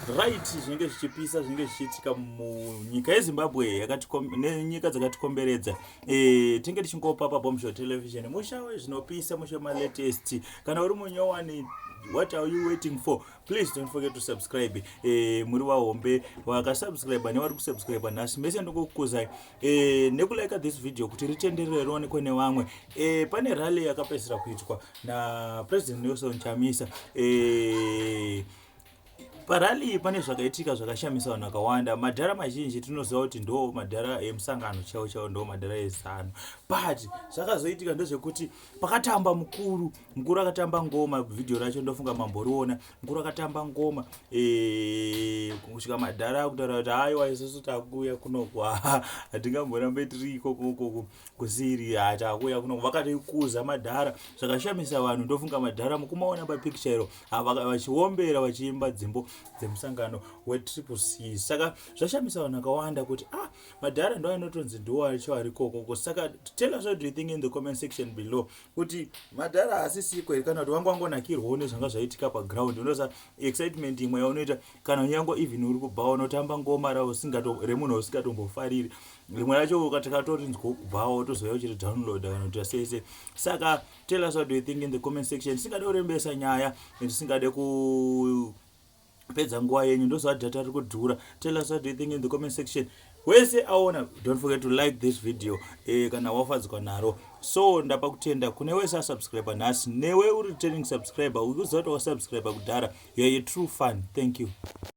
right zvinenge zvichipisa zvinenge zvichiitika munyika yezimbabwe nenyika dzakatikomberedza e, tinge tichingopa pabomsho television musha wezvinopisa musha malatest kana uri munyowani what are you waiting for please don't forget to subscribe e, muri vahombe vakasubscribe nevari kusubscribe nhasi mese ndokukuzai e, eh, nekulika this video kuti ritenderere rionekwe nevamwe e, pane rally yakapedzisira kuitwa napresident nelson chamisa e, Parali iyi pane zvakaitika zvakashamisa vanhu vakawanda. Madhara mazhinji tinoziva kuti ndo madhara emusangano chaiwo chaiwo ndo madhara ezano. But zvakazoitika ndezvekuti pakatamba mukuru, mukuru akatamba ngoma video racho ndofunga mamboriona. Mukuru akatamba ngoma eh kusvika madhara kutaura kuti haiwa isusu takuya kunokwa. Hatingamborambe tiri iko koko kusiri hatakuya kunokwa. Vakatoikuza madhara zvakashamisa vanhu ndofunga madhara mukumaona pa picture iro. vachiombera vachiimba dzimbo dzemusangano wetriple c saka zvashamisa vanhu vakawanda kuti ah madhara ndo anotonzi ndiwo acho ari kokoko saka tell us what do you think in the comment section below kuti madhara asisiko here kana kuti wanga wangonakirwawo nezvanga zvaitika paground unosa excitement imwe yaunoita kana unyango even uri kubva unotamba ngoma remunhu usingatombofariri rimwe racho ukatikatori nzwo kubvawo tozouya uchiri download kana kuti asese saka tell us what do you think in the comment section tisingade kurembesa nyaya and tisingade ku pedza nguva yenyu ndozva data riri kudhura tell us what do you think in the comment section wese aona don't forget to like this video eh, kana wafadzwa naro so ndapa kutenda kune wese asubscriber nhasi newe uri returning subscriber ukuziva kuti wasubscriber kudhara youare a true fun thank you